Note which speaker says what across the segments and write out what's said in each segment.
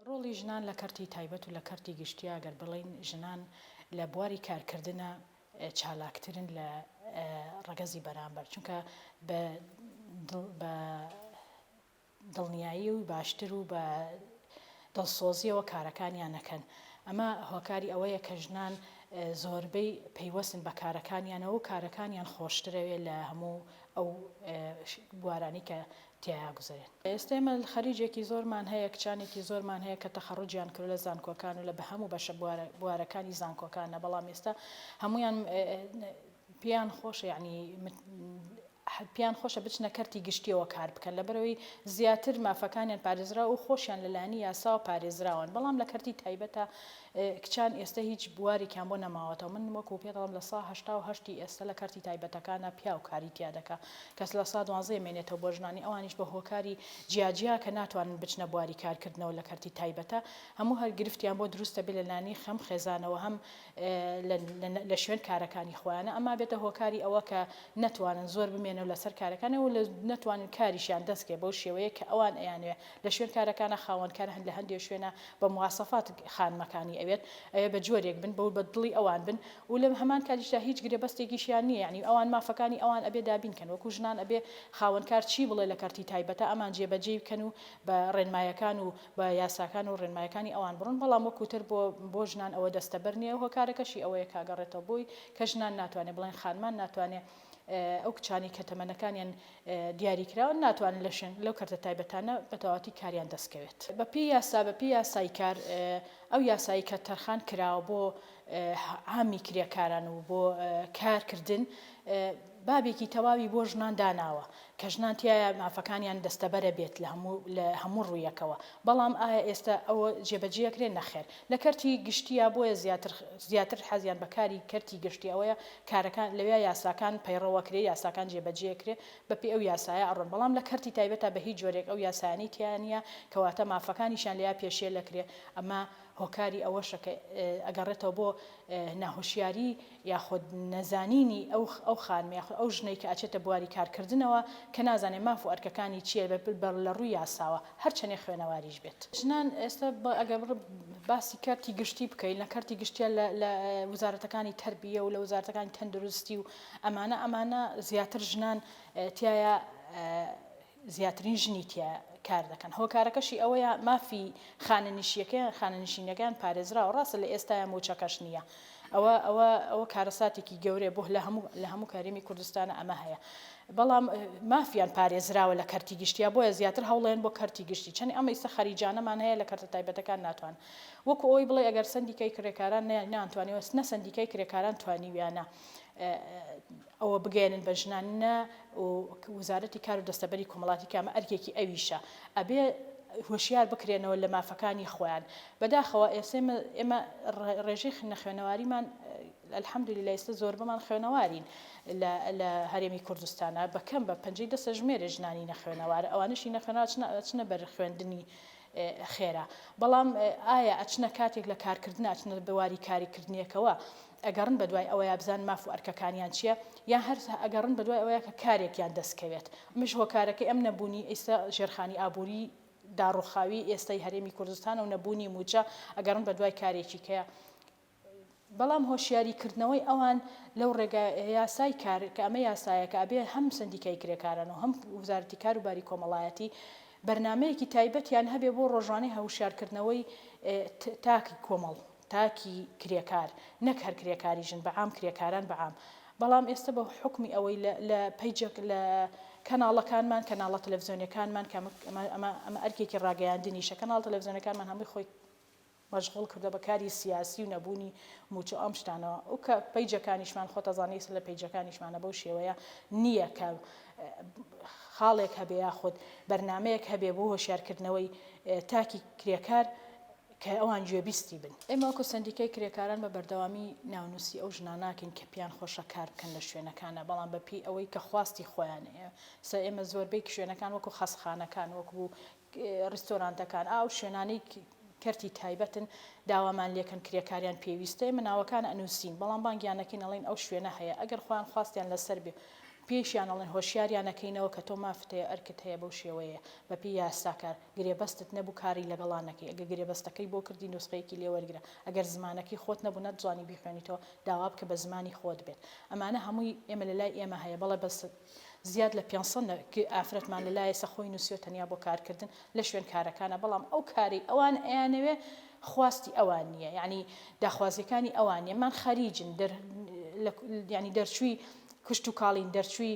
Speaker 1: ڕۆڵی ژنان لە کەرتی تایبەت و لە کەرتی گشتیی ئەگەر بڵێین ژنان لە بواری کارکردنا چالاکترن لە ڕەگەزی بەرامبەر چونکە بە بە دڵنیایی و باشتر و بە دڵسۆزییەوە کارەکانیان ئەکەن ئەمە هۆکاری ئەوەیە کە ژنان زۆربەی پەیوەستن بە کارەکانیانەوە و کارەکانیان خۆشترەوێ لە هەموو ئەو بوارانەی کە تیایا گوزەرێن. ئێستا ئێمە خەریجێکی زۆرمان هەیە، کچانێکی زۆرمان هەیە کە تەخەڕوجیان کردوە لە زانکۆکان و لە بەهەموو بەشە بوارەکانی زانکۆکانە بەڵام ئێستا هەموویان پێیان خۆشە یەعنی پێیان خۆشە بچنە کەرتی گشتیەوە کار بکەن لەبەرەوەی زیاتر مافەکانیان پارێزراو و خۆشیان لەلایەنی یاساوە پارێزراون بەڵام لە کەرتی تایبەتە کچان ئێستە هیچ بوارێکیان بۆ نەماوەتەوە من وەکو پێت ئەڵێم لە سا هەشتا و هەشتی ئێستە لە کەرتی تایبەتەکانا پیاو کاری تیا دەکا کەس لە سا دوانزەیە مێنێتەوە بۆ ژنانی ئەوانیش بە هۆکاری جیا جیا کە ناتوانن بچنە بواری کار کردنەوە لە کەرتی تایبەتە هەموو هەر گرفتیان بۆ دروست دەبێ لە لانی خەم خێزانەوە هەم لە لە شوێن کارەکانی خۆیانە ئەما بێتە هۆکاری ئەوە کە نەتوانن زۆر بمێنەوە لە سەر کارەکانەوە لە نەتوانن کاریشیان دەست کەێ بەو شێوەیە کە ئەوان ئەیانوێ لە شوێنکارەکانە خاوەنکار هەن لە هەندێ شوێنە بە مواسەفات خانمەکانی ئەوێت ئەوێ بە جۆرێک بن بەو بە دڵی ئەوان بن و لە هەمان کاتیشدا هیچ گرێبەستێکیشیان نیە یانی ئەوان مافەکانی ئەوان ئەبێ دابین کەن وەکو ژنان ئەبێ خاوەنکار چی بڵێ لە کەرتی تایبەتە ئەمان جێ بە جێی بکەن و بە ڕێنمایەکان و بە یاساکان و ڕێنمایەکانی ئەوان بڕۆن بەڵام وەکو تر بۆ بۆ ژنان ئەوە دەستەبەر نیە هۆکارەکەشی ئەوەیە کە ئەگەڕێتەوە بۆی کە ژنان ناتوانێ بڵێن خانمان ناتوانێ ئەو کچانەی کە تەمەنەکانیان دیاریکراوە ناتوانن لە شوێن لەو کەرتە تایبەتانە بە تەواتی کاریان دەستکەوێت بە پێی یاسا بە پێی یاسای کار ئەو یاسایی کە تەرخان کراوە بۆ عامی کرێکاران و بۆ کارکردن بابێکی تەواوی بۆ ژنان داناوە کە ژنان تیایا مافەکانیان دەستەبەرە بێت لە هەموو لە هەموو ڕوویەکەوە، بەڵام ئایا ئێستا ئەوە جێبەجێەکرێ؟ نەخێر لە کەرتی گشتییە بۆیە زیاتر زیاتر حەزیان بە کاری کەرتی گشتی ئەوەیە کارەکان لەویا یاساکان پەیڕەوەکرێ یاساکان جێبەجێکرێ بەپێی ئەو یاسایە ئەڕۆن بەڵام لە کەرتی تایبەتا بە هیچ جۆرێک ئەو یاسایانەی تیا نییە کەواتە مافەکانیشیان لێیا پێشێلەکرێ ئەمە هۆکاری ئەوەشە کە ئەگەڕێتەوە بۆ ناهۆشیاری یاخود نەزانینی ئەو ئەو خانمە یاخود ئەو ژنەی کە ئەچێتە بواری کارکردنەوە کە نازانێ ماف و ئەرکەکانی چیە لە ڕووی یاساوە هەرچەنێ خوێنەواریش بێت. ژنان ئێستا ئەگەر بڕ باسی کەرتی گشتی بکەین لە کەرتی گشتیە لە لە وزارەتەکانی تەربیە و لە وزارەتەکانی تەندروستی و ئەمانە ئەمانە زیاتر ژنان تیایا زیاترین ژنی تیا کار دەکەن، هۆکارەکەشی ئەوەیە مافی خانەنشیەکەیان خانەنشینیەکەیان پارێزراوە، ڕاستە لە ئێستایا مووچەکەش نییە، ئەوە ئەوە ئەوە کارەساتێکی گەورەیە بۆ لە هەموو لە هەموو هەرێمی کوردستانا ئەمە هەیە، بەڵام مافیان پارێزراوە لە کەرتی گشتیا بۆیە زیاتر هەوڵێن بۆ کەرتی گشتی چەنی ئەمە ئیستا خەریجانەمان هەیە لە کەرتە تایبەتەکان ناتوان وەکو ئەوەی بڵێ ئەگەر سەندیکای کرێکاران نەیان نانتوانیوە نە سەندیکای کرێکاران توانیویانە ئەوە بگەیەنن بە ژنان نە و وزارەتی کار و دەستەبەری کۆمەڵاتی کە ئەمە ئەرکێکی ئەویشە ئەبێ هۆشیار بکرێنەوە لە مافەکانی خۆیان بەداخەوە ئێسێمە ئێمە ڕێژەی خنە خوێنەواریمان الحمدللە ئێستا زۆربەمان خوێنەوارین لە لە هەرێمی کوردستانە بە کەم بە پەنجەی دەسە ژمێرە ژنانی نەخوێنەوارە ئەوانشی نەخوێنەوە ئەچنە بەر خوێندنی خێرا بەڵام ئایا ئەچنە کاتێک لە کارکردن ئەچنە بواری کاریکردنیەکەوە ئەگەڕن بە دوای ئەوەیا بزانن ماف و ئەرکەکانیان چیە یان هەر ئەگەڕن بە دوای ئەوەیا کە کارێکیان دەست کەوێت ئەمەش هۆکارەکەی ئەم نەبوونی ئیستا ژێرخانی ئابووری داڕوخاوی ئێستای هەرێمی کوردستانە و نەبوونی مووچە ئەگەڕن بە دوای کارێکی کە بەڵام هۆشیاری کردنەوەی ئەوان لەو ڕێگا یاسای کار کە ئەمە یاسایەکە ئەبێ هەم سندیکای کرێکاران و هەم وزارەتی کار و باری کۆمەڵایەتی بەرنمەیەکی تایبەتیان هەبێ بۆ ڕۆژانەی هەوشارکردنەوەی تاکی کۆمەڵ تاکی کرێکار نەک هەر کرێکاری ژن بە عام کرێکاران بە عام بەڵام ئێستە بە حوکمی ئەوەی لە لە پەیجەک لە کەناڵەکانمان کەناڵە تەلەفزیۆنیەکانمان کە ئەمە ئەمە ئەمە ئەرکێکی ڕاگەیاندنیشە کەناڵ تەلەفزیۆنەکانمان هەمووی خۆی مەژغوڵ کردوە بە کاری سیاسی و نەبوونی موچە ئەم شتانەوە ئەو کە پەیجەکانیشمان خۆ تەزانێ ئیسە لە پەیجەکانیشمانە بەو شێوەیە نییە کە خاڵێک هەبێ یاخود بەرنمەیەک هەبێ بۆ هۆشیارکردنەوەی تاکی کرێکار کە ئەوان گوێبیستی بن. ئێمە وەکو سەندیکای کرێکاران بە بەردەوامی ناونوسی ئەو ژنان ناکەین کە پێیان خۆشە کار بکەن لە شوێنەکانا بەڵام بە پێی ئەوەی کە خواستی خۆیانەیە سە ئێمە زۆربەی شوێنەکان وەکو خەسخانەکان وەکو ریستۆرانتەکان ئاو شوێنانەی کەرتی تایبەتن داوامان لێکەن کرێکاریان پێویستە ئێمە ناوەکان ئەنوسین بەڵام بانگیان نەکەین ئەڵین ئەو شوێنە هەیە ئەگەر خۆیان خواستیان لەسەر بێ پێشیان ئەڵێن هۆشیاریان نەکەینەوە کە تۆ مافتەیە ئەرکت هەیە بەو شێوەیە بە پێی یاساکار گرێبەستت نەبوو کاری لەگەڵا نەکەی ئەگەر گرێبەستەکەی بۆ کردی نوسخەیەکی لێ وەرگرە ئەگەر زمانەکەی خۆت نەبوو نەتزانی بیخوێنیتەوە داوا بکە بە زمانی خۆت بێت ئەمانە هەمووی ئێمە لە لای ئێمە هەیە بەڵێ بەس زیاد لە پێنج سەد نە ک ئافرەتمان لە لایەسە خۆی نوسیوە تەنیا بۆ کار کردن لە شوێن کارەکانا بەڵام ئەو کارەی ئەوان ئەیانەوێ خواستی ئەوان نیە یانی داخوازیەکانی ئەوان نیە مان خەریجن دەر لە یانی دەرچووی کشتوکاڵین دەرچووی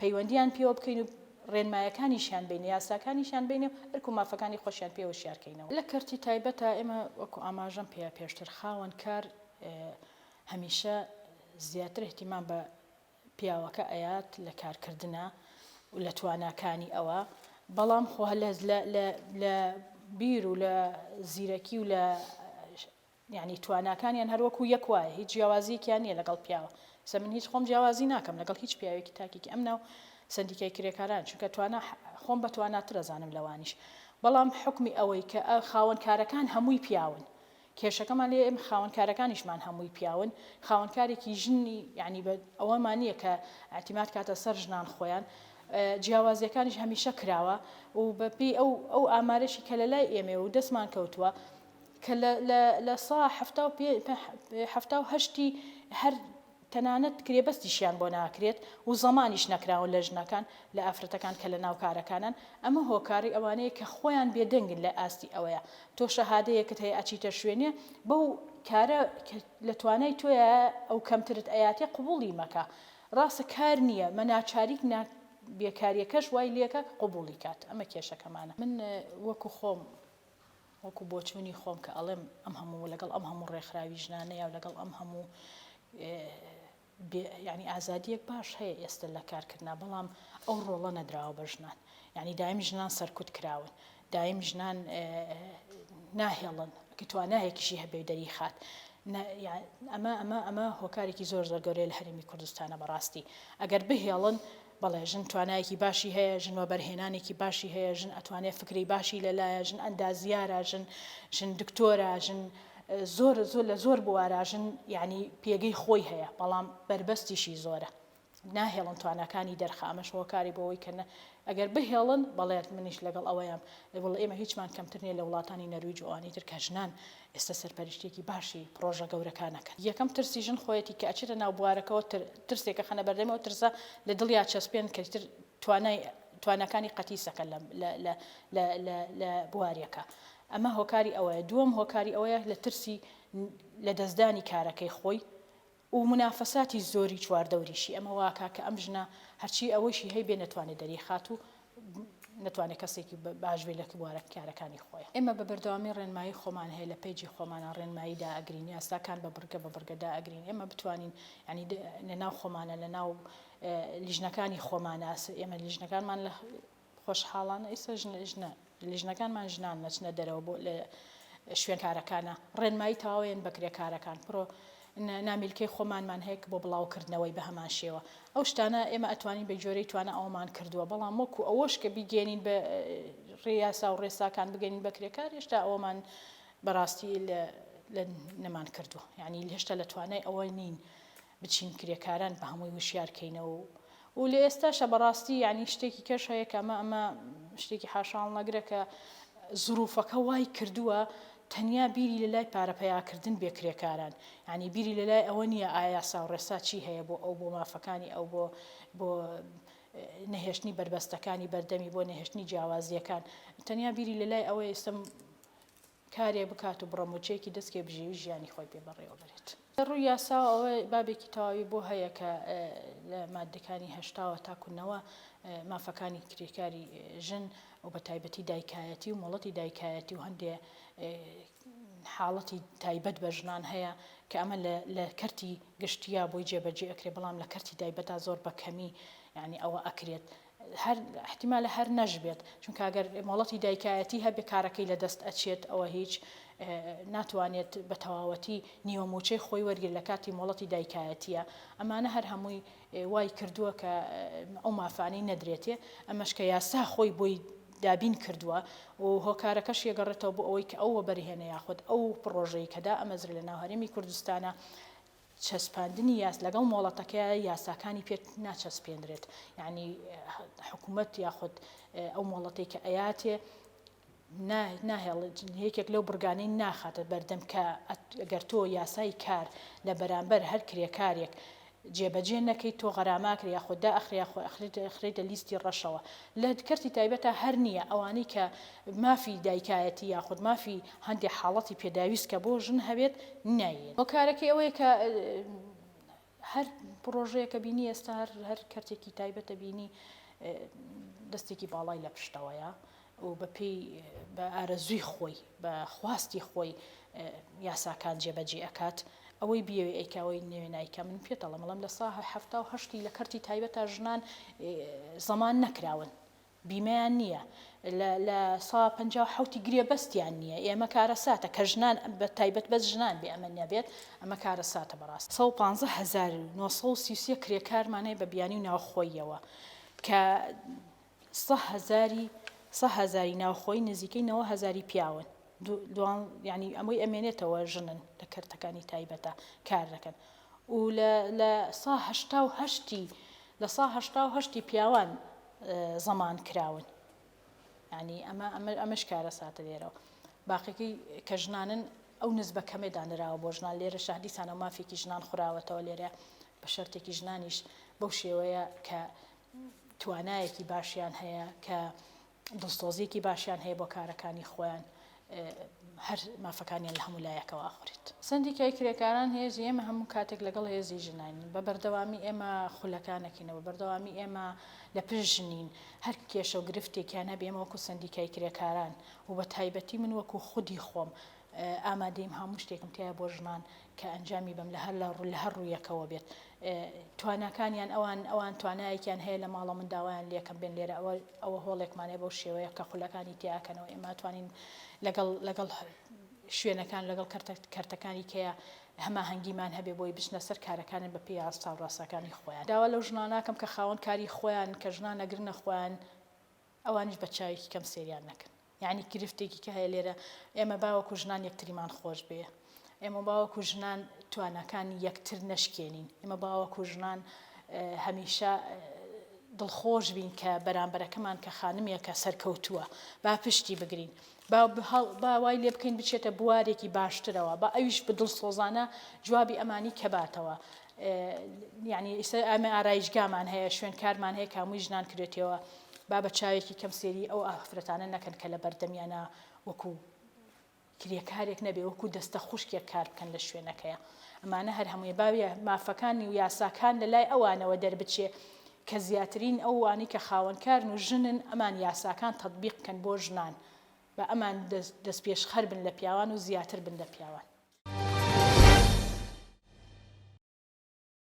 Speaker 1: پەیوەندییان پێوە بکەین و ڕێنمایەکانیشیان بینێ، یاساکانیشیان بینێ و ئەرک و مافەکانی خۆشیان پێ هۆشیار کەینەوە. لە کەرتی تایبەتا ئێمە وەکو ئاماژەم پێ پێشتر خاوەن کار هەمیشە زیاتر ئیهتیمام بە پیاوەکە ئەیات لە کار کردنا و لە تواناکانی ئەوە بەڵام خۆ لە بیر و لە زیرەکی و لە یانی تواناکانیان هەر وەکو یەک وایە هیچ جیاوازیەکیان نیە لەگەڵ پیاوە سە من هیچ خۆم جیاوازی ناکەم لەگەڵ هیچ پیاوێکی تاکێکی ئەم ناو سەندیکای کرێکاران چونکە توانا خۆم بە تواناتر ئەزانم لەوانیش بەڵام حوکمی ئەوەی کە خاوەن کارەکان هەمووی پیاون کێشەکەمان لێ ئێمە خاوەن کارەکانیشمان هەمووی پیاون خاوەن کارێکی ژنی یعنی بە ئەوەمان نییە کە ئەتیمات کاتە سەر ژنان خۆیان جیاوازیەکانیش هەمیشە کراوە و بەپی ئەو ئەو ئامارەشی کە لە لای ئێمێ و دەستمان کەوتووە کە لە لە لە سا حەفتا و پێ پە حەفتا و هەشتی هەر تەنانەت گرێبەستیشیان بۆ ناکرێت و زەمانیش نەکراون لە ژنەکان لە ئافرەتەکان کە لەناو کارەکانن ئەمە هۆکاری ئەوانەیە کە خۆیان بێدەنگن لە ئاستی ئەوەیە تۆ شەهادەیەکت هەیە ئەچیتە شوێنێ بەو کارە کە لە توانای تۆیایە ئەو کەمترت ئەیاتێ قبوڵی مەکە ڕاستە کار نییە مە ناچاریت نا بێکاریەکەش وای لێکا قبوڵی کات ئەمە کێشەکەمانە من وەکو خۆم وەکو بۆچوونی خۆم کە ئەڵێم ئەم هەموو لەگەڵ ئەم هەموو ڕێکخراوی ژنانەیا و لەگەڵ ئەم هەموو یانی ئازادیەک باش هەیە ئێستا لە کارکردنا بەڵام ئەو ڕۆڵە نەدراوە بە ژنان یعنی دایم ژنان سەرکوت کراون دایم ژنان ناهێڵن کە توانایەکیشی هەبێ دەری خات ئەمە ئەمە ئەمە هۆکارێکی زۆر زۆر گەورەیە لە هەرێمی کوردستانە بەڕاستی ئەگەر بهێڵن بەڵێ ژن توانایەکی باشی هەیە، ژن وەبەرهێنانێکی باشی هەیە، ژن ئەتوانێ فکرەی باشی لە لایە، ژن ئەندازیارە، ژن ژن دکتۆرە، ژن زۆر زۆر لە زۆر بوارا ژن یانی پێگەی خۆی هەیە، بەڵام بەربەستیشی زۆرە. ناهێڵن تواناکانی دەرخە ئەمەش هۆکاری بۆ ئەوەی کە نە ئەگەر بهێڵن بەڵێ منیش لەگەڵ ئەوەیەم وڵ ئێمە هیچمان کەمتر نیە لە وڵاتانی نەرویج و ئەوانی تر کە ژنان ئێستا سەرپەرشتیەکی باشی پڕۆژە گەورەکان ئەکەن یەکەم ترسی ژن خۆیەتی کە ئەچێتە ناو بوارەکەوە تر ترسێک ئەخەنە بەردەمی ئەو ترسە لە دڵیا چەسپێن کە ئیتر توانای تواناکانی قەتیسەکە لە لە لە لە لە لە بواریەکە ئەمە هۆکاری ئەوەیە دووەم هۆکاری ئەوەیە لە ترسی لە دەستدانی کارەکەی خۆی و منافەساتی زۆری چواردەوریشی ئەمە واکا کە ئەم ژنە هەرچی ئەوەشی هەی بێ نەتوانێ دەریخات و نەتوانێ کەسێکی باش بێ لە بوارە کارەکانی خۆی. ئێمە بە بەردەوامی ڕێنمایی خۆمان هەیە لە پەیجی خۆمانا ڕێنمایی دائەگرین یاساکان بە بڕگە بە بڕگە دائەگرین ئێمە بتوانین یانی لە ناو خۆمانە لە ناو لیژنەکانی خۆمانە ئێمە لیژنەکانمان لە خۆشحاڵانە ئیستا ژنە ژنە لژنەکانمان ژنان نەچنە دەرەوە بۆ لە شوێن کارەکانە ڕێنمایی تەواوێن بە کرێکارەکان پرۆ نامیلکەی خۆمانمان هەیە کە بۆ بڵاوکردنەوەی بە هەمان شێوە ئەو شتانە ئێمە ئەتوانین بە جۆرەی توانە ئەومان کردووە بەڵام وەکو ئەوەش کە بیگەێنین بە ڕێیاسا و ڕێساکان بگەین بە کرێکار هێشتا ئەومان بەڕاستی لە نەمان کردووە یعنی هێشتا لە توانای ئەوە نین بچین کرێکاران بە هەمووی وشیار کەینەوە و و لە ئێستاشا بە ڕاستی یانی شتێکی کەش هەیە کە ئەمە ئەمە شتێکی حاشاهەڵنەگرە کە زروفەکە وای کردووە تەنیا بیری لە لای پارە پەیاکردن بێ کرێکاران یانی بیری لە لای ئەوە نییە ئایا یاسا و ڕێسا چی هەیە بۆ ئەو بۆ مافەکانی ئەو بۆ بۆ نەهێشتنی بەربەستەکانی بەردەمی بۆ نەهێشتنی جیاوازییەکان تەنیا بیری لە لای ئەوە ئێستم کارێ بکات و بڕە مووچەیەکی دەستکەوێ بژێوی ژیانی خۆی پێ بەڕێوە بەرێت. لە ڕووی یاساوە ئەوە بابێکی تەواوی بۆ هەیە کە لە ماددەکانی هەشتا وە تاکوو نەوە مافەکانی کرێکاری ژن و بە تایبەتی دایکایەتی و مۆڵەتی دایکایەتی و هەندێ حاڵەتی تایبەت بە ژنان هەیە کە ئەمە لە کەرتی گشتیا بۆی جێبەجێ ئەکرێ بەڵام لە کەرتی تایبەتا زۆر بە کەمی یانی ئەوە ئەکرێت هەر ئیحتیمالە هەر نەشبێت چونکە ئەگەر مۆڵەتی دایکایەتی هەبێت کارەکەی لە دەست ئەچێت ئەوە هیچ ناتوانێت بە تەواوەتی نیوە موچەی خۆی وەرگر لە کاتی مۆڵەتی دایکایەتیە ئەمانە هەر هەمووی وای کردووە کە ئەو مافانی نەدرێتێ ئەمەش کە یاسا خۆی بۆی دابین کردووە و هۆکارەکەش یەگەڕێتەوە بۆ ئەوەی کە ئەو وەبەرهێنە یاخود ئەو پڕۆژەی کەدا ئەمەزرە لە ناوهرێمی کوردستانە چەسپاندنی یاس لەگەڵ مۆڵەتەکەیا یاساکانی پێ ناچەسپێنرێت یانی حکومەت یاخود ئەو مۆڵەتی کە ئەیاتێ ناهێڵێت یەکێک لەو بڕگانەی ناخاتە بەردەم کە گەر تۆ یاسای کار لە بەرامبەر هەر کرێکارێک جێبەجێ نەکەیت تۆ غەراماکرێ یا خۆدا ئەخریا خۆ ئەخریتە لیستی ڕەشەوە لە کەرتی تایبەتە هەر نییە ئەوانەی کە مافی دایکایەتی یاخود مافی هەندێ حاڵەتی پێداویست کە بۆ ژن هەبێت نایێت. هۆکارەکەی ئەوەیە کە هەر پڕۆژەیە کە بینی ئێستا هەر هەر کەرتێکی تایبەتە بینی دەستێکی باڵای لە پشتەوەیە و بەپێی بە ئارەزووی خۆی بە خواستی خۆی یاساکان جێبەجێ ئەکات ئەوەی بیەوێ ئەیکاوەی نوێ نایکە من پێتەڵم مەڵم لە ساهە هەفتا و هەشتی لە کەرتی تایبەتە ژنان زەمان نەکراون بیمەیان نییە لە لە سا پەنجا و حەوتی گرێبەستیان نییە ئێمە کارەساتە کە ژنان بە تایبەت بەس ژنان بێ ئەمە نەبێت ئەمە کارەساتە بەڕاست سەد و پازدە هەزار و نۆ سەد و سی و سێ کرێکارمان هەیە بە بیانی و ناوخۆییەوە کە سە هەزاری سە هەزاری ناوخۆی نزیکەی نەوە هەزاری پیاون دوان ینی ئەمەی ئەمێنێتەوە ژنن لە کەرتەکانی تایبەتە کار دەکەن و لە لە سا هەشتا و هەشتی لە سا هەشتا و هەشتی پیاوان زەمان کراون یانی ئەمە ئەمە ئەمەش کارەساتە لێرەوە باقیەکەی کە ژنانن ئەو نزبە کەمێ دانراوە بۆ ژنان لێرە شادیسانە مافێکی ژنان خوراوەتەوە لێرە بە شەرتێکی ژنانیش بەو شێوەیە کە توانایەکی باشیان هەیە کە دڵسۆزیەکی باشیان هەیە بۆ کارەکانی خۆیان هەر مافەکانیان لە هەموو لایەکەوە ئەخوریت. سەندیکای کرێکاران هێزی ئێمە هەموو کاتێک لەگەڵ هێزی ژنان بە بەردەوامی ئێمە خولەکانەکەینە بە بەردەوامی ئێمە لە پشت ژنین هەر کێشە و گرفتێکیان هەبێ ئێمە وەکو سەندیکای کرێکاران و بە تایبەتی من وەکو خودی خۆم ئامادەیم هەموو شتێکم تیایە بۆ ژنان کە ئەنجامی بەم لە هەر لە هەر ڕوویەکەوە بێت تواناکانیان ئەوان ئەوان توانایەکیان هەیە لە ماڵە من داوایان لەکەم بێن لێرە ئەوە ئەوە هۆڵێکمان هەیە بەو شێوەیە کە خولەکانی تێیاکەنەوە ئێمە ئەتوانین لەگەڵ لەگەڵ شوێنەکان لەگەڵ کەرتە کەرتەکانی کەیە هەماهەنگیمان هەبێ بۆی بچنە سەر کارەکانن بە پێی ئاستا و ڕاستەکانی خۆیان داوا لەو ژنانە ناکەم کە خاوەن کاری خۆیان کە ژنان ئەگرنە خۆیان ئەوانیش بە چاوێکی کەم سێریان نەکەن یانی گرفتێکی کە هەیە لێرە ئێمە با وەکو ژنان یەکتریمان خۆش بێ ئێمە با وەکو ژنان تواناکانی یەکتر نەشکێنین ئێمە با وەکو ژنان هەمیشە دڵخۆش بین کە بەرامبەرەکەمان کە خانمیەکە سەرکەوتووە با پشتی بگرین با با وای لێ بکەین بچێتە بوارێکی باشترەوە، با ئەویش بە دڵسۆزانە جوابی ئەمانی کەباتەوە. یانی ئیسە ئەمە ئارایشگامان هەیە، شوێنکارمان هەیە کاموی ژنان کرێتەوە، با بە چاوێکی کەم سێری ئەو ئافرەتانە نەکەن کە لە بەردەمیانە وەکو کرێکارێک نەبێ وەکو دەستە خوشکێک کار بکەن لە شوێنەکەیە. ئەمانە هەر هەمووی باویە مافەکانی و یاساکان لە لای ئەوانەوە دەربچێ کە زیاترین ئەو وانی کە خاوەنکارن و ژنن ئەمان یاساکان تەتبیق کەن بۆ ژنان بە ئەمان دەست پێشخەر بن لە پیاوان و زیاتر بن لە پیاوان.